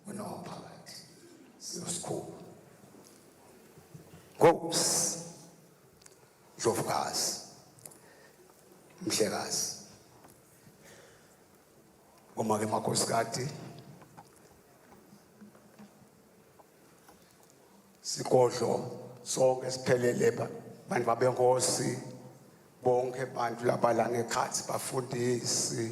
unowaphakathi siyosikhulu ngokusi ndlovukazi mhlekazi uma-ke makhosikati sigodlo sonke siphelele bantu babenkosi bonke abantu labalana ekhathi bafundisi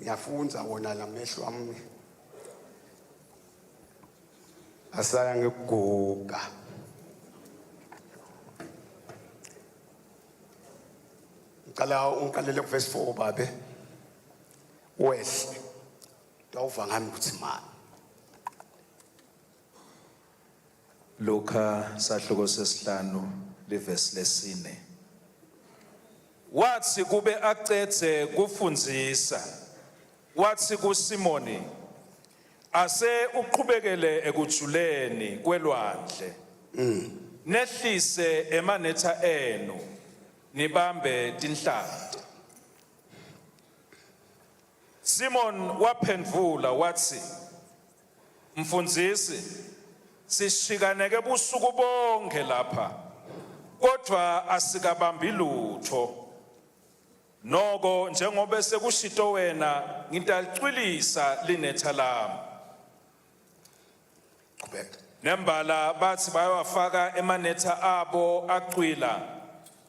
ngiyafunza wona la mehlo ami asaya ngikuguga ngicela ungiqalele kuvesi 4 babe wehle tawuva ngami ukuthi mani Luka sahluko sesihlanu livesi lesine. Wathi kube acedze kufundisa wathi kuSimoni ase uqhubekele ekujuleni kwelwandle mm. nehlise emanetha enu nibambe tinhlati Simon waphendvula wathi Mfundisi, sishikaneke busuku bonke lapha kodwa asikabambi lutho. Noko njengoba sekushito wena ngintacwilisa linetha lami. Qhubeka. Nembala bathi bayawafaka emanetha abo acwila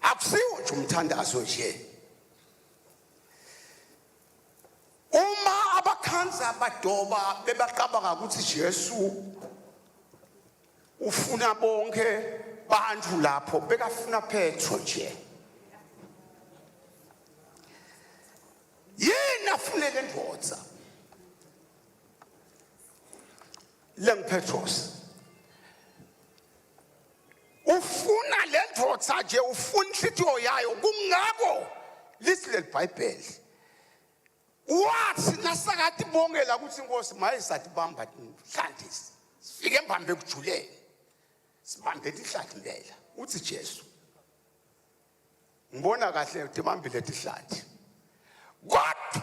akusiwo nje umthandazo nje uma abakhanza badoba bebaqabanga ukuthi Jesu ufuna bonke bantu lapho bekafuna Petro nje yini afunele ndoda lengu Petros ufuna le ndoda nje ufuna inhlitiyo yayo kungako lisi leli bhayibheli wathi nasakati bongela ukuthi inkosi maye satibamba nhlandisi sifike embambe ekujuleni sibambe tihlathi impela uthi jesu ngibona kahle tibambile tihlathi kodwa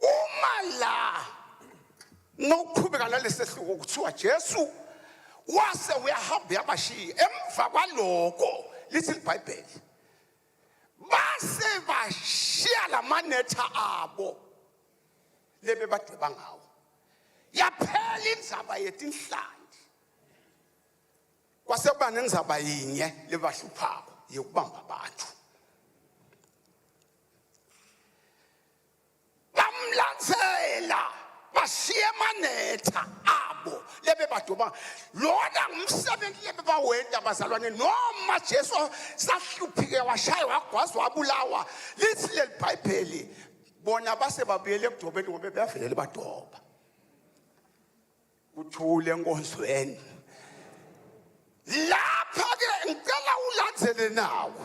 uma la nokuqhubeka nalesehluko kuthiwa Jesu wase uyahamba yabashiya emva kwaloko lithi libhayibheli base bashiya lamanetha abo lebe badweba ngawo yaphela inzaba yetinhlandi kwase kuba nenzaba yinye lebahluphako yokubamba abantu bamlandzela bashiye manetha abo lebebadoba lona ngumsebenzi lebebawenta bazalwane noma jesu sahluphike washaya wagwazwa wabulawa lithi leli bhayibheli bona base babuyele ekudobeni ngoba beyavelele badoba kuthule enkonzweni lapha-ke ngicela ulandzele nawo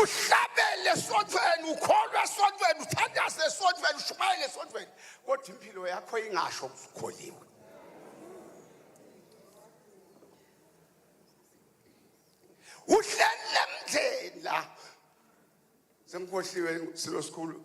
uhlabele esontweni ukholwa esontweni uthandaze esontweni ushumayele esontweni kodwa impilo yakho ingasho ukholiwe uhlele mndeni la sengikhohliwe silo sikhulu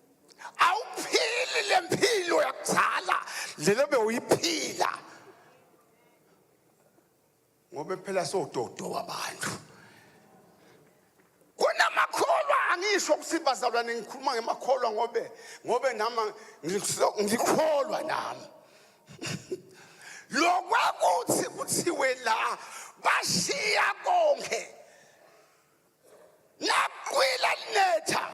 awuphili le mpilo yakuzala lelo bewuyiphila ngoba phela sododo wabantu kunamakholwa angisho ukuthi bazalwane ngikhuluma ngemakholwa ngobe ngobe nami ngikholwa nami lokwakuthi kuthiwe la bashiya konke nakwila linetha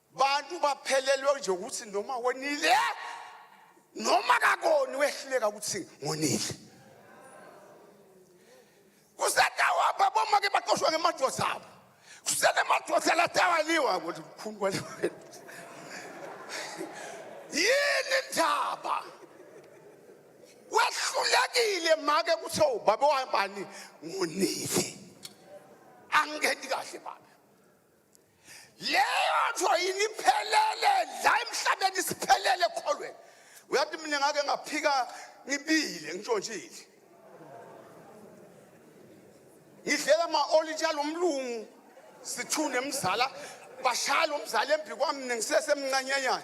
bantu baphelelwe nje ukuthi noma wonile noma kakoni wehluleka ukuthi ngonile kusetawapha bomake baqoshwa ngemadoda abo kusenemadoda latawaliwa ukuthi mkhulu kwaliwa yini ndaba wehlulekile make kuthe ubaba wabani ngonile angikhethi kahle baba leyo nto yini iphelele la emhlabeni isiphelele ekholweni uyathi mina ngake ngaphika ngibile ngishontshile ngidlela ama-olitsha lo mlungu sithune mzala bashaya lo mzala embi kwami mina ngisesemncanyanyana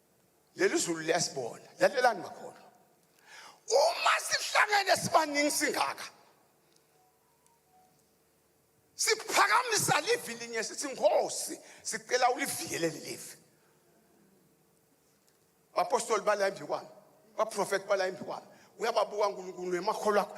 leli zulu liyasibona lalelani bakhona uma sihlangene sibaningi singaka siphakamisa livi linye sithi nkosi sicela ulivikele lelivi bapostoli bala embi kwami baprofethi bala embi kwami uyababuka unkulunkulu emakholwa akho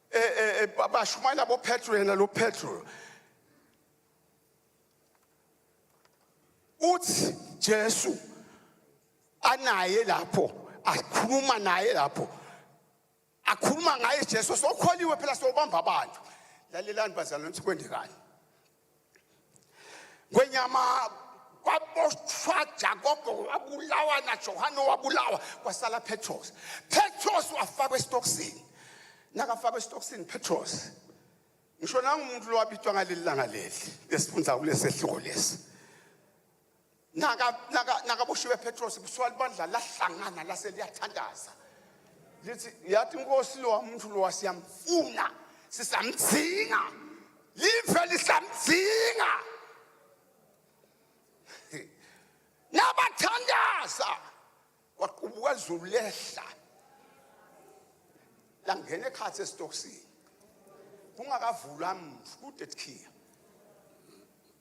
eh, eh, eh bashumayela boPetro yena lo Petro uthi Jesu anaye lapho akhuluma naye lapho akhuluma ngaye Jesu sokholiwe phela sobamba abantu lalelani bazalwane ukuthi kwenzekani Ngwenyama kwaboshwa Jakobo wabulawa na Johane wabulawa kwasala Petros. Petros wafakwa esitokisini. Nakafakwa esitokisini Petros. Ngisho nangumuntu lowabitwa ngaleli langa leli lesifundza kulesehluko lesi. nakaboshiwe petros kuthiwa libandla lahlangana lase liyathandaza lithi yathi inkosi lowa muntu lowa siyamfuna sisamdzinga live lisamdzinga nabathandaza kwaqubuka izulu lehla langena ekhathi esitokisini kungakavulwa mntu kude kuthiya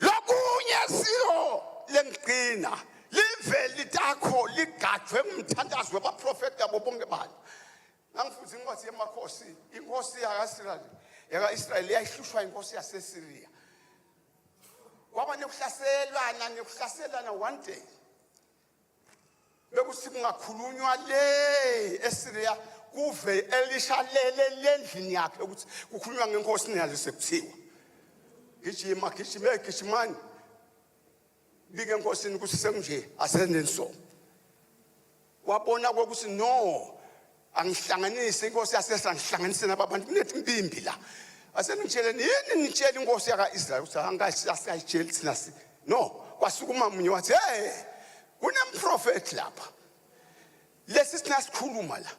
Lokunye siyo lengigcina live litakho ligajwe ngumthandazo wabaprofeti yabo bonke bani ngangifuthi incwadi yemakhosi inkosi yaka-israyeli yaka-israyeli yayihlushwa inkosi yasesiriya kwaba nekuhlaselana nekuhlaselana one day bekuthi kungakhulunywa le eSyria kuve elisha lele lendlini yakhe ukuthi kukhulunywa ngenkosi niyale sekuthiwa gijima gijime gijimani bike enkosini ukuthi sekunje asenensomo wabona kokuthi no angihlanganise inkosi yasesa ngihlanganise nababantu kunethi impimbi la aseningitsheleni yini nitshela inkosi yaka-israyeli ukuthi angasiyayitsheli thina si no kwasukuma munye wathi hey kunemprofethi lapha lesi sina sikhuluma la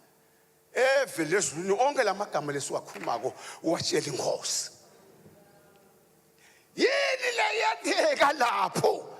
eve lezulwini onke la magama lesiwakhulumako uwatshela inkosi yini leyenzeka lapho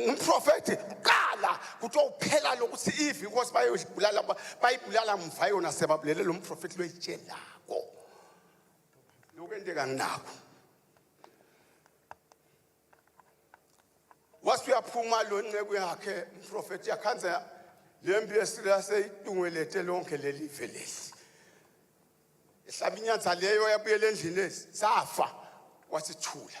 ngumprofethi kuqala kuthiwa uphela lokuthi ivi inkosi bayolibulala bayibulala mva yona sebabulele lo mprofethi loyitshelako lokwenteka nginako wase uyaphuma lo nceku yakhe umprofethi yakhanza le mpi esiraseyidungelete lonke leli ve leli ehlaba inyanza leyo yabuyela endlini ezi safa wasithula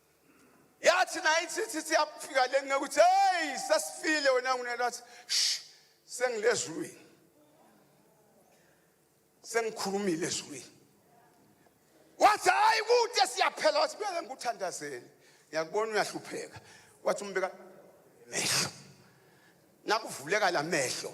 yathi naye ithi siyafika le ngeke ukuthi hey sesifile wena ngunelo wathi sengilezulwini sengikhulumile ezulwini wathi hayi kude siyaphela wathi beke ngikuthandazele ngiyakubona uyahlupheka wathi umbeka mehlo nakuvuleka la mehlo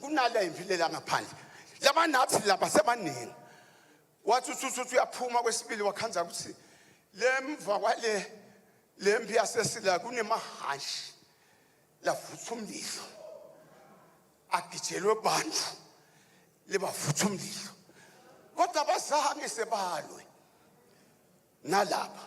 kunala impilela ngaphandle laba nathi laba sebaningi wathi ususuthi uyaphuma kwesibili wakhanza ukuthi lemva kwale lempi yasesila kunemahashi lavutha umlilo agijelwe bantu libavutha umlilo kodwa abazange sebalwe nalapha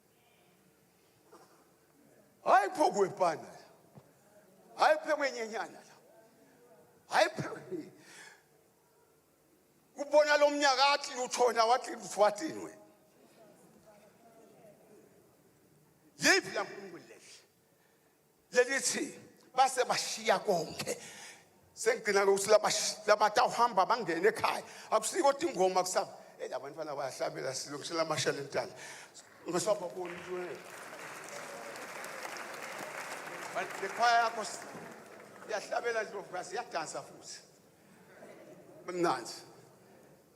hayi phokwe pana hayi phekwe nyenyana la hayi phekwe kubona lo mnyaka athi luthona wathi luthwatinwe yiphi la nkulunkulu lehle lelithi base bashiya konke sengigcina lokuthi labatawuhamba bangene ekhaya akusiko kodwa ingoma kusaba eyi labantwana bayahlabela silungisela amasha lentana ngisababoni nje but le khwaya yakho iyahlabela ndlovukazi iyadansa futhi mnandi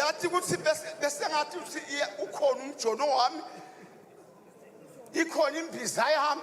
uyathi ukuthi besengathi uthi ukhona umjono wami ikhona imbiza yami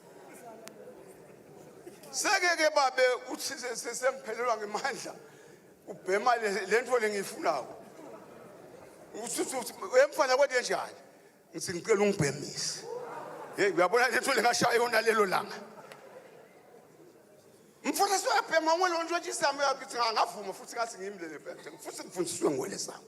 sekeke babe uthi sengiphelelwa ngemandla ubhema le nto lengiyifunako emfana kwete njani ngithi ngicela ungibhemise heyi uyabona le nto lengashaya yona lelo langa mfana soyabhema ngwe lonto nje isami yakithi ngavuma futhi ngathi ngimlele phela futhi ngifundiswe ngwele sami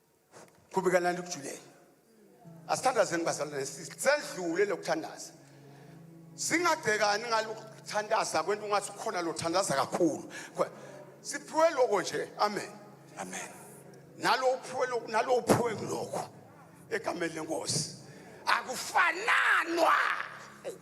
Qhubekanani ukujulele. Asithandazeni bazalwane sendlule lokuthandaza. Singagcekani ngalokuthandaza kwento ungathi ukhona lothandaza kakhulu. Siphiwe lokho nje. Amen. Amen. Nalo uphiwe lokho nalo uphiwe kulokho egameni lenkosi. Akufananwa.